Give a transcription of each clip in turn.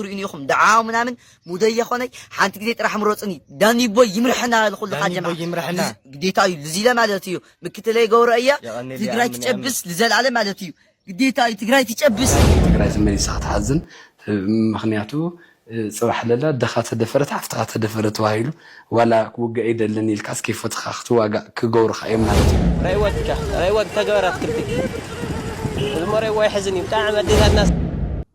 ትሪኡኒ ኢኹም ደዓው ምናምን ሙደይ የኾነይ ሓንቲ ግዜ ጥራሕ ምረፁኒ ዳኒቦይ ይምርሐና ልኹልኻ ጀማ ግዴታ እዩ ልዚለ ማለት እዩ ምክትለይ ገብረ እያ ትግራይ ትጨብስ ልዘለኣለ ማለት እዩ ግዴታ እዩ ትግራይ ትጨብስ ትግራይ ተመሊሳ ክትሓዝን ምክንያቱ ፅባሕ ለላ ኣደኻ ተደፈረት ሓፍትኻ ተደፈረ ተባሂሉ ዋላ ክውጋእ ይደልን ኢልካስ ከይፈትኻ ክትዋጋእ ክገብሩኻ እዮም ማለት እዩ ረይወትካ ረይወት ተገበራት ክልቲኪ እዝሞ ረይዎ ይሕዝን እዩ ብጣዕሚ ኣዴታትና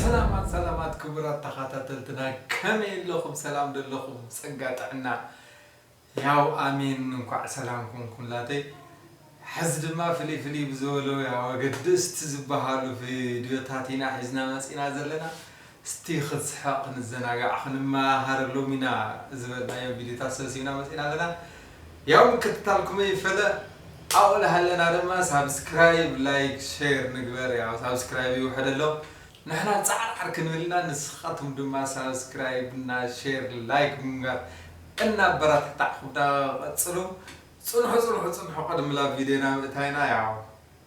ሰላማት ሰላማት ክቡራት ተኻታተልትና ከመይ ኣለኹም ሰላም ዶ ኣለኹም ጸጋ ጥዕና ያው ኣሜን እንኳዕ ሰላም ኮንኩምላተይ ሕዚ ድማ ፍልይ ፍልይ ብዝበሉ ያው ኣገደስቲ ዝበሃሉ ቪድዮታት ኢና ሒዝና መጺእና ዘለና እስቲ ክንስሕቕ ክንዘናጋዕ ክንመሃሃረሎም ኢና ዝበልናዮም ቪድዮታት ሰብሲብና መጺእና ኣለና ያው ምክትታልኩም ኣይፈለ ኣብኡ ልሃለና ድማ ሳብስክራይብ ላይክ ሼር ንግበር ያው ሳብስክራይብ ይውሕድ ኣሎ ንሕና ጻዕርዓር ክንብል ኢና ንስኻትኩም ድማ ሳብስክራይብ እና ሼር ላይክ ብምግባር እናበረታታዕኹምና ቀጽሉ ጽንሑ ጽንሑ ጽንሑ ቅድሚ ላብ ቪድዮና ምእታይና ያው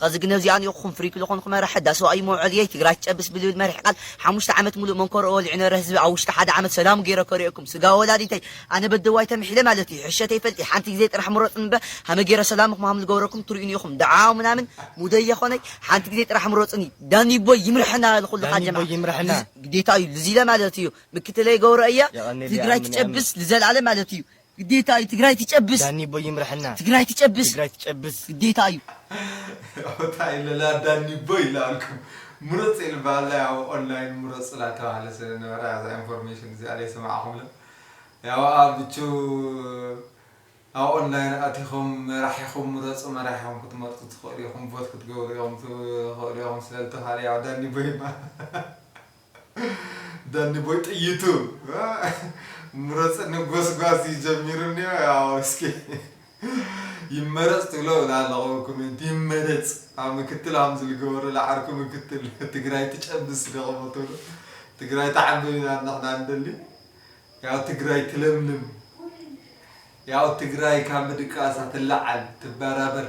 ኸዚ ግነ እዚኣ ኒኦኹም ፍሪክ ልኾንኹ መራሒ እዳ ሰብኣዩ መውዐልየይ ትግራይ ትጨብስ ብልብል መሪሕ ቃል ሓሙሽተ ዓመት ሙሉእ መንኮርኦ ወሊዑ ነረ ህዝቢ ኣብ ውሽጢ ሓደ ዓመት ሰላሙ ገይረ ከሪኦኩም ስጋ ወላዲተይ ኣነ በደዋይ ተምሒለ ማለት እዩ ሕሸ ተይፈልጢ ሓንቲ ግዜ ጥራሕ ምረፁኒ እምበ ሃመ ገይረ ሰላምኹም ሃም ልገብረኩም ትሪኡ ኒኦኹም ዳዓ ምናምን ሙደይ የኾነይ ሓንቲ ግዜ ጥራሕ ምረፁኒ ዳኒቦይ ይምረሐና ልኹልኻ ዳኒቦይ ጀማዓ ይምረሐና። ልዝ ግዴታ እዩ ልዚለ ማለት እዩ ምክትለይ ገብረ እያ የቐኔለይ ትግራይ ኣምን ትጨብስ ልዘልኣለም ማለት እዩ ግዴታ እዩ ትግራይ ትጨብስ። ዳኒ ቦይ ይምረሐና ትግራይ ትጨብስ። ትግራይ ትጨብስ። ግዴታ እዩ። ያው ታይ ልላ ዳኒ ቦይ ኢላ ኣልኩም ምረጽ ኢል ባሃላ ያው ኦንላይን ምረጽ ኢላ ተባህለ ስለ ነበረ ኣዛ ኢንፎርሜሽን እዚኣ ደይ ሰማዕኩምላ ያው ኣብ ብቹ ኣብ ኦንላይን ኣቲኹም መራሒኹም ምረጹ መራሒኹም ክትመርጹ ትኽእሉ ኢኹም ቮት ክትገብሩ ኢኹም ትኽእሉ ኢኹም ስለ ልተባህለ ያው ዳኒ ቦይ ማ ዳኒ ቦይ ጥይቱ ምረፅኒ ጎስጓስ እዩ ጀሚሩ እኒኦ ያው እስኪ ይመረፅ ትብሎ ብላ ኣለኹ ኮሜንት ይመረፅ ኣብ ምክትል ሃምዚ ልገበሩ ለዓርኩ ምክትል ትግራይ ትጨብስ ደቕሞ ትብሎ ትግራይ ተዓንብብ ኢና ንሕና ንደሊ ያው ትግራይ ትለምልም ያው ትግራይ ካብ ምድቃሳ ትለዓል ትበራበር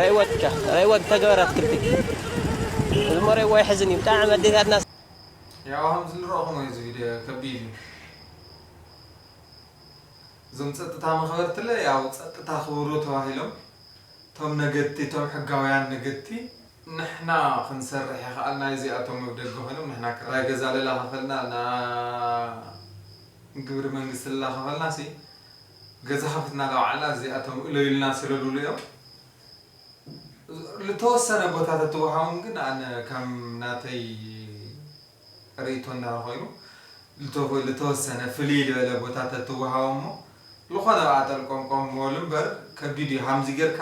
ረይወትከ ረይወት ተገበር ኣትክልቲ እዚ እሞ ረይዎ ይሕዝን እዩ ብጣዕሚ ኣዴታትና ያው ከምዚ ንረኹሞ እዚ ቪድዮ ከቢድ እዩ እዞም ፀጥታ መኽበርትለ ያው ፀጥታ ክብሩ ተባሂሎም እቶም ነገድቲ እቶም ሕጋውያን ነገድቲ ንሕና ክንሰርሕ ይኸኣልና እዚኣቶም ኣብ ደገ ኮይኖም ንሕና ክራይ ገዛ ለላኸፈልና ግብሪ መንግስቲ ለላኸፈልናሲ ገዛ ከፊትና ላባዕልና እዚኣቶም እለዩ ኢልና ስለልብሉ እዮም ልተወሰነ ቦታ ተትወሃቦም ግን ኣነ ከም ናተይ ርእይቶ እንድሕር ኮይኑ ልተወሰነ ፍልይ ልበለ ቦታ ተትወሃቦም እሞ ልኾነ ብኣ ጠልቆምቆም ምበሉ እምበር ከቢድ እዩ ሃምዚ ጌርካ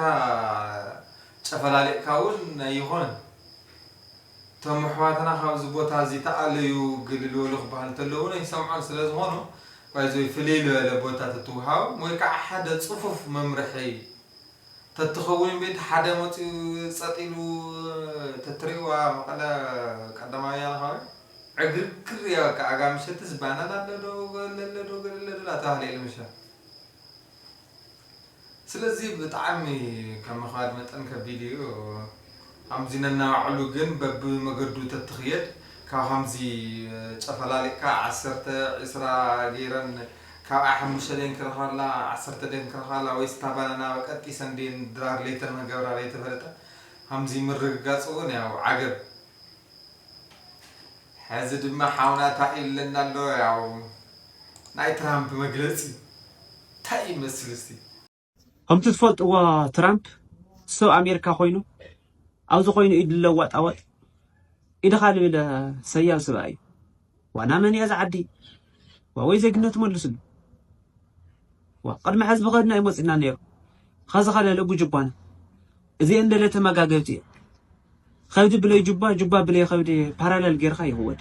ጨፈላሊቕካ እውን ኣይኾነን እቶም ኣሕዋትና ካብዚ ቦታ እዚ ተኣለዩ ግልልወሉ ክበሃል እንተሎ እውን ኣይሰምዑን ስለዝኾኑ ባይዘወይ ፍልይ ልበለ ቦታ ተትወሃቦም ወይ ከዓ ሓደ ፅፉፍ መምርሒ ተትኸውን ቤት ሓደ መፂኡ ፀጥ ኢሉ ተትሪእዋ መቐለ ቀዳማዊ ወያነ ከባቢ ዕግርግር እያ በቃ ኣጋ ምሸትስ ባናና ኣለዶ ገለ ኣለዶ ገለ ኣለዶ እናተባህለ ኢሉ ምሸት ስለዚ ብጣዕሚ ከም ምክባድ መጠን ከቢድ እዩ ሀምዚ ነናባዕሉ ግን በቢ መገዱ ተትክየድ ካብ ሀምዚ ጨፈላሊቅካ ዓሰርተ ዕስራ ገይረን ካብኣ ሐሙሽተ ደየን ክረክባላ ዓሰርተ ደየን ክረክባላ ወይስ እታ ባናና ቀጢሰን ደየን ድራር ለይተን ክገብራ ለይተፈለጠ ሀምዚ ምርግጋፅ እውን ያው ዓገብ ሐዚ ድማ ሓውና ታኢሉ ኣለና ኣሎ ያው ናይ ትራምፕ መግለጺ ታይ ይመስል እስቲ። ከምቲ ትፈልጥዎ ትራምፕ ሰብ ኣሜሪካ ኮይኑ ኣብዚ ኮይኑ ኢድ ለዋጣወጥ ኢድኻ ልብል ሰያብ ስብኣይ እዩ ዋና መን እያ እዛ ዓዲ ዋወይ ዜግነቱ መልስሉ ዋ ቅድሚ ሕዚ ብኸድና እዩ መፂና ነይሩ ኸዚ ከለለ ጉጅባና እዚኤን ደለ ተመጋገብቲ እየ ከብዲ ብለይ ጁባ ጁባ ብለይ ከብዲ ፓራለል ጌርካ ይክወድ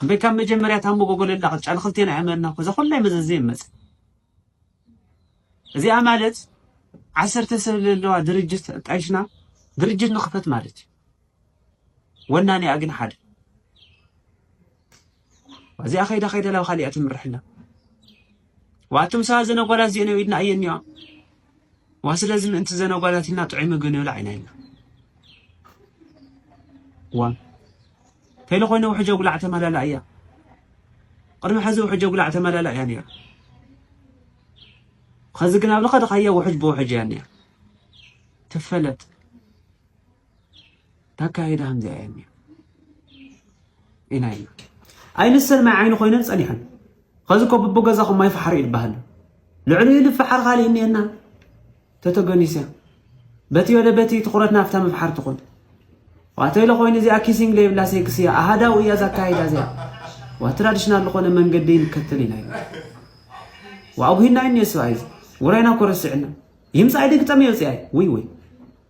እምበይ ካብ መጀመርያ እታ መጎጎለላ ቅጫ ንክልቴና ኣይመና እኮ እዛ ኩላይ መዘዝ ዘይመጽእ እዚኣ ማለት ዓሰርተ ሰብ ዘለዋ ድርጅት ጣይሽና ድርጅት ንክፈት ማለት እዩ ወናኒኣ ግን ሓደ እዚኣ ከይዳ ከይዳ ላብ ካሊኣ ትምርሕና ዋትም ሰባ ዘነጓላት ዜነ ኢድና ኣየንዋ ዋ ስለዚ ምእንቲ ዘነጓላት ኢልና ጥዑይ ምግቢ ንብላ ኢና ኢልና ዋ ተይለ ኮይነ ውሕጀ ጉላዕ ተመላላ እያ ቅድሚ ሕዚ ውሕጀ ጉላዕ ተመላላ እያ ነይራ ከዚ ግን ኣብ ልኸድኻዮ ውሕጅ ብውሕጅ እያ እኒኣ ትፈለጥ ታካይዳ ከምዚኣ እያ እኒኣ ኢና ኢና ኣይንሰን ማይ ዓይኒ ኮይነን ፀኒሐን ከዚ ኮ ብቦ ገዛኹም ማይ ፋሕሪ ይበሃል ልዕሊ ልፋሓር ካሊእ እኒኤና ተተገኒሰ በቲ ወደ በቲ ትኩረት ናፍታ ምፍሓር ትኹን ዋተይለ ኮይኑ እዚኣ ኪሲንግ ዘይብላ ሴክስ እያ ኣሃዳዊ እያ ዛካይዳ እዚያ ዋ ትራዲሽናል ዝኾነ መንገዲ ንከተል ኢና ኢና ዋኣጉሂና እኒኦ ስብኣይ ውራይና ኮረሲዕና ይምፃእ ድግጠም የውፅኣይ ውይ ውይ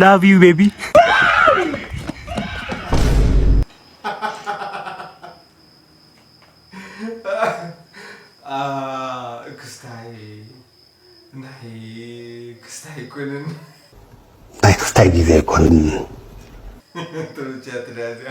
ላቭ ዩ ቤቢ ክስታይ ናይ ክስታይ ኣይኮንን ናይ ክስታይ ግዜ ኣይኮንን ተመችያትኒ ኣዝያ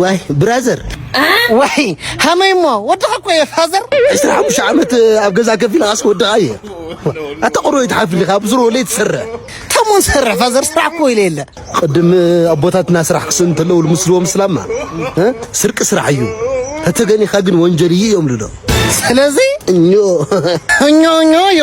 ዋይ ብራዘር ዋይ ሃመይ እሞ ወድኻ እኮ እየ ፋዘር ዕስራ ሓሙሽተ ዓመት ኣብ ገዛ ከፍ ኢልካስ ወድኻ እየ ኣታ ቁሮ ይትሓፍልካ ኣብ ዙሮ ለይ ትሰርሕ ተሞን ሰርሕ ፋዘር ስራሕ እኮ ኢለ የለ ቅድም ኣቦታትና ስራሕ ክስእን እንተለዉ ልምስልዎም ስላማ ስርቂ ስራሕ እዩ ተተገኒኻ ግን ወንጀል እዩ እዮም ልዶ ስለዚ እኞ እኞ እኞ እዮ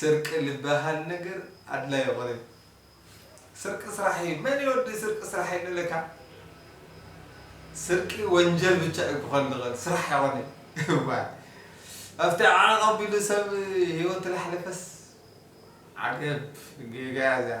ስርቂ ልበሃል ነገር ኣድላይ ኣኮነይ ስርቂ ስራሕ እዩ መን ይወዲ ስርቂ ስራሕ ኣይንለካ ስርቂ ወንጀል ብቻ እዩ ክኮን ዝክእል ስራሕ ኣይኮነይ እዋይ ኣብቲ ዓዕቕ ኣቢሉ ሰብ ሂወት ላሕለፈስ ዓገብ ጌጋ እያ እዚኣ።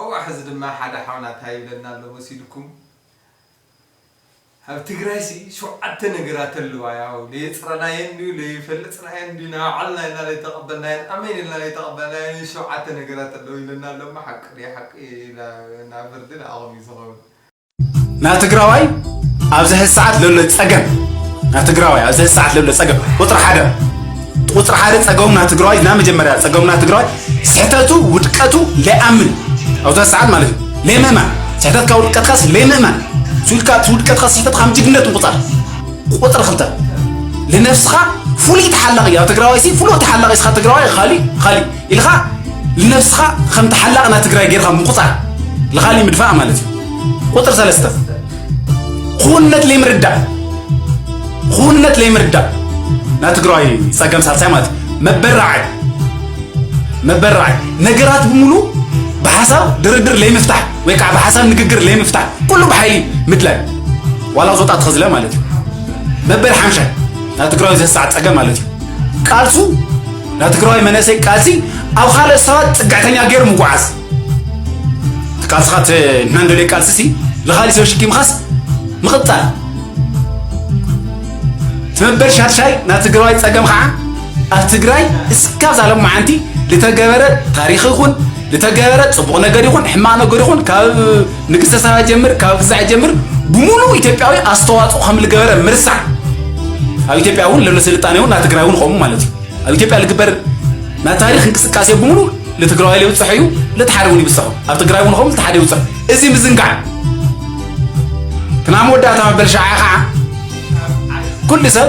ኣዋእ ሕዚ ድማ ሓደ ሓውና ታይ ይብለና ኣሎ መሲልኩም ኣብ ትግራይ ሲ ሸውዓተ ነገራት ኣለዋ ያው ለየፅረናየን ድዩ ለይፈልፅናየን ድዩ ናባዕልና ኢና ለይተቐበልናየን ኣመይን ኢልና ለይተቐበልናየን ሸውዓተ ነገራት ኣለዉ ይብለና ኣሎ እሞ ሓቂ ድዩ ሓቂ ናብ ፍርዲ ንዓኹም እዩ ዝኸውን ናትግራዋይ ኣብዚ ሕዚ ሰዓት ለሎ ጸገም ናትግራዋይ ኣብዚ ሕዚ ሰዓት ለሎ ጸገም ቁፅሪ ሓደ ቁፅሪ ሓደ ጸገሙ ናትግራዋይ ና መጀመርያ ጸገሙ ናትግራዋይ ስሕተቱ ውድቀቱ ለይኣምን ኣብዚ ሕዚ ሰዓት ማለት እዩ ለይምእማን ስሕተትካ ውድቀትካስ ለይምእማን ስኢልካ እቲ ውድቀትካ ስሕተትካ ከም ጅግነት ምቁፃር ቁፅሪ ክልተ ልነብስኻ ፍሉይ ተሓላቂ እዩ ኣብ ትግራዋይ ሲ ፍሉይ ተሓላቂ ስኻ ትግራዋይ ኻሊእ ኻሊእ ኢልኻ ንነብስኻ ከም ተሓላቂ ናይ ትግራይ ጌርኻ ምቁፃር ልኻሊ ምድፋእ ማለት እዩ ቁፅር ሰለስተ ኩውነት ለይምርዳእ ኩውነት ለይምርዳእ ናይ ትግራይ ፀገም ሳልሳይ ማለት እዩ መበራዓይ መበራዓይ ነገራት ብምሉ ብሓሳብ ድርድር ለይምፍታሕ ወይ ከዓ ብሓሳብ ንግግር ለይምፍታሕ ኩሉ ብሓይሊ ምድላይ ዋላ ዝወጣ ተኸዝለ ማለት እዩ መበል ሓምሻይ ናይ ትግራይ ዘሳዕ ፀገም ማለት እዩ ቃልሱ ናይ ትግራዋይ መንእሰይ ቃልሲ ኣብ ካልኦት ሰባት ፅግዕተኛ ገይሩ ምጉዓዝ እቲ ቃልስኻ እቲ እናንደልዮ ቃልሲ ሲ ንኻሊእ ሰብ ሽኪምኻስ ምቕፃል ትመበል ሻድሻይ ናይ ትግራዋይ ፀገም ከዓ ኣብ ትግራይ እስካብ ዛሎም መዓንቲ ዝተገበረ ታሪክ ይኹን ዝተገበረ ፅቡቕ ነገር ይኹን ሕማቕ ነገር ይኹን ካብ ንግስተ ሳባ ጀምር ካብ ግዛዕ ጀምር ብሙሉ ኢትዮጵያዊ ኣስተዋፅኦ ከም ዝገበረ ምርሳዕ ኣብ ኢትዮጵያ እውን ለሎ ስልጣኔ እውን ናብ ትግራይ እውን ከምኡ ማለት እዩ ኣብ ኢትዮጵያ ዝግበር ናይ ታሪክ እንቅስቃሴ ብሙሉ ለትግራዋይ ለይብፅሖ እዩ ለተሓደ እውን ይብፅሖ ኣብ ትግራይ እውን ከምኡ ተሓደ ይብፅሖ እዚ ምዝንጋዕ ክና መወዳእታ መበል ሸዓ ከዓ ኩሉ ሰብ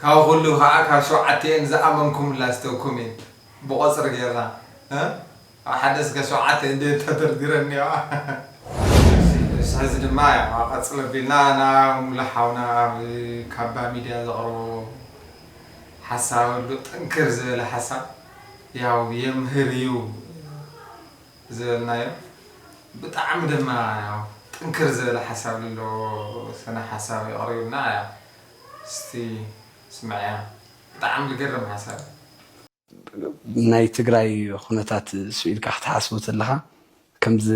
ካብ ኩሉ ካኣ ካብ ሸውዓቲኤን ዝኣመንኩምላ እስተ ኩሜንት ብቆጽሪ ጌርና ካብ ሓደ እስከ ሸውዓተ እንድየን ተደርዲረን እንየዋ ሕዚ ድማ ያው ቀጽል ኣቢልና ናብ ሙሉ ሓውና ኣብ ካባ ሚድያ ዘቅርቦ ሓሳብ ኣሎ ጥንክር ዝበለ ሓሳብ ያው የምህር እዩ ዝበልናዮ ብጣዕሚ ድማ ያው ጥንክር ዝበለ ሓሳብ ለለዎ ስነ ሓሳብ እዩ ኣቅሪቡልና ያው እስቲ ስምዕያ ብጣዕሚ ልገርም ሓሳብ። ናይ ትግራይ ኹነታት ስኢልካ ክትሓስቦ ተለኻ ከምዚ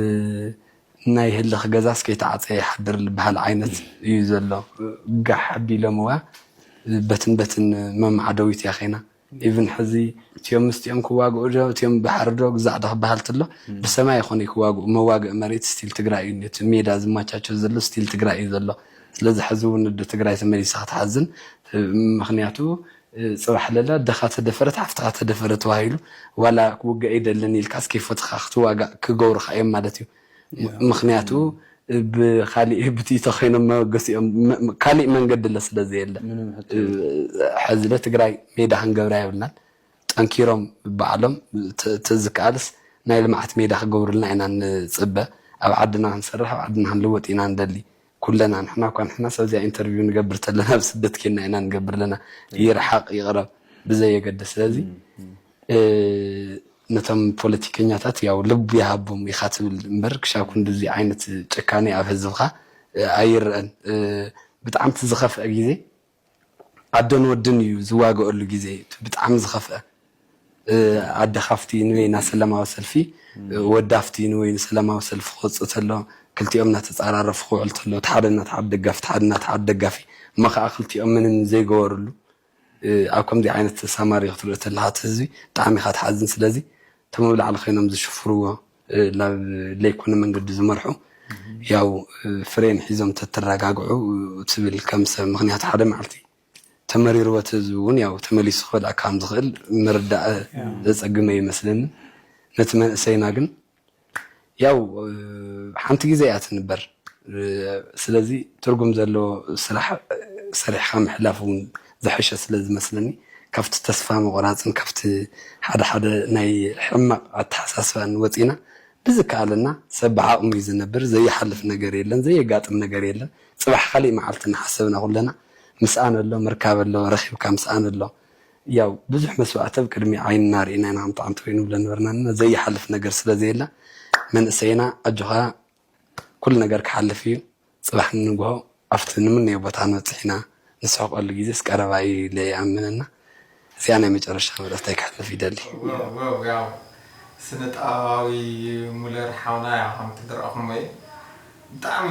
ናይ ህልኽ ገዛስ ከይተዓፀየ ይሓድር ልበሃል ዓይነት እዩ ዘሎ ጋሕ ኣቢሎምዋ በትን በትን መማዕደዊት ያኼና። ኢቭን ሕዚ እትዮም ምስቲኦም ክዋግኡ ዶ እትዮም ባሕሪ ዶ ግዛዕ ዶ ክበሃል ተሎ ብሰማይ ይኾኑ ክዋግኡ መዋግኢ መሬት ስቲል ትግራይ እዩ ኒቲ ሜዳ ዝማቻቾ ዘሎ ስቲል ትግራይ እዩ ዘሎ ስለዚ ሕዚ እውን ኣደ ትግራይ ተመሊሳ ክትሓዝን ምኽንያቱ ፅባሕ ለለ ኣደኻ ተደፈረት ሓፍትኻ ተደፈረ ተባሂሉ ዋላ ክውጋእ ኣይደልን ኢልካስ ከይፈትኻ ክትዋጋእ ክገብሩኻ እዮም ማለት እዩ። ምኽንያቱ ብኻሊእ ብቲ ተኸይኖም መበገሲኦም ካሊእ መንገዲለ ስለዘየለ ሐዚለ ትግራይ ሜዳ ክንገብራ የብልናን ጠንኪሮም ባዕሎም ተዝካኣልስ ናይ ልምዓት ሜዳ ክገብሩልና ኢና ንፅበ ኣብ ዓድና ክንሰርሕ ኣብ ዓድና ክንልወጥ ኢና ንደሊ ኩለና ንሕና እኳ ንሕናስ ኣብዚኣ ኢንተርቪው ንገብር ተለና ኣብ ስደት ኬንና ኢና ንገብር ለና ይርሓቅ ይቅረብ ብዘይ የገድስ ስለዚ ነቶም ፖለቲከኛታት ያው ልብ ይሃቦም ኢካ ትብል እምበር ክሻብ ክንድዚ ዓይነት ጭካኔ ኣብ ህዝብካ ኣይረአን ብጣዕምቲ ዝከፍአ ግዜ ኣደን ወድን እዩ ዝዋገኦሉ ግዜ እቲ ብጣዕሚ ዝኸፍኣ ኣደ ካብቲ ንበይና ሰላማዊ ሰልፊ ወዲ ኣብቲ ንበይኑ ሰላማዊ ሰልፊ ክወጽእ ተሎ ክልቲኦም ናተጻራረፉ ክውዕል ተሎ እቲ ሓደ ናቲ ሓደ ደጋፊ እቲ ሓደ ናቲ ሓደ ደጋፊ እሞ ከኣ ክልቲኦም ምንም ዘይገበርሉ ኣብ ከምዚ ዓይነት ሳማርዮ ክትሪኦ ተለኻ እቲ ህዝቢ ብጣዕሚ ኢኻ ትሓዝን ስለዚ እቶም ኣብ ላዕሊ ኮይኖም ዝሽፍርዎ ናብ ለይኮነ መንገዲ ዝመርሑ ያው ፍሬን ሒዞም ተትረጋግዑ ትብል ከም ሰብ ምክንያቱ ሓደ መዓልቲ ተመሪርዎ እውን ያው ተመሊሱ ክበልዕ ከም ዝኽእል ምርዳእ ዘጸግመ ይመስለኒ ነቲ መንእሰይና ግን ያው ሓንቲ ግዜ እያ ትንበር ስለዚ ትርጉም ዘለዎ ስራሕ ሰሪሕካ ምሕላፍ እውን ዝሐሸ ስለ ዝመስለኒ ካብቲ ተስፋ ምቁራፅን ካብቲ ሓደ ሓደ ናይ ሕማቅ ኣተሐሳስባን ወፂእና ብዝከኣለና ሰብ ብዓቅሙ እዩ ዝነብር ዘይሓልፍ ነገር የለን ዘየጋጥም ነገር የለን ፅባሕ ካሊእ መዓልቲ እናሓሰብና ኩለና ምስኣን ኣሎ ምርካብ ኣሎ ረኪብካ ምስኣን ኣሎ ያው ብዙሕ መስዋእቲ ኣብ ቅድሚ ዓይንና ሪእና ኢና ከምቲ ዓንተወይኒ ንብሎ ነበርና እና ዘይሓልፍ ነገር ስለ ዘየለ መንእሰይና ኣጆካ ኩሉ ነገር ክሓልፍ እዩ ፅባሕ ንንግሆ ኣብቲ ንምነዮ ቦታ ክንበፅሕ ኢና ንስሕቀሉ ግዜስ ቀረባ እዩ ኢለ ይኣምን እና እዚኣ ናይ መጨረሻ መልእኽተይ ክሕልፍ ይደሊ። ዋውውው ያው ስነጥበባዊ ሙለር ሓውና ያው ከምቲ ድራእኩሞ እየ ብጣዕሚ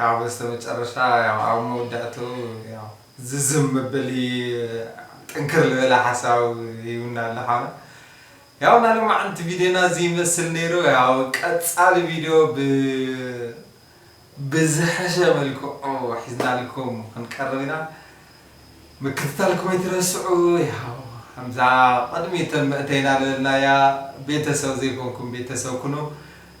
ያው በስተመጨረሻ ያው ኣብ መውዳእትኡ ያው ዝዝም መበሊ ጥንክር ልበለ ሓሳብ ይብና ኣሎ ሓውና ያው ናይ ሎማዓንቲ ቪድዮና እዚ ይመስል ነይሩ ያው ቀጻሊ ቪድዮ ብ ብዝሐሸ መልክዑ ሒዝናልኩም ክንቀርብ ኢና ምክትታልኩም ኣይትረስዑ ያው ከምዛ ቅድሚተን መእተይና ልበልናያ ቤተሰብ ዘይኮንኩም ቤተሰብ ኩኑ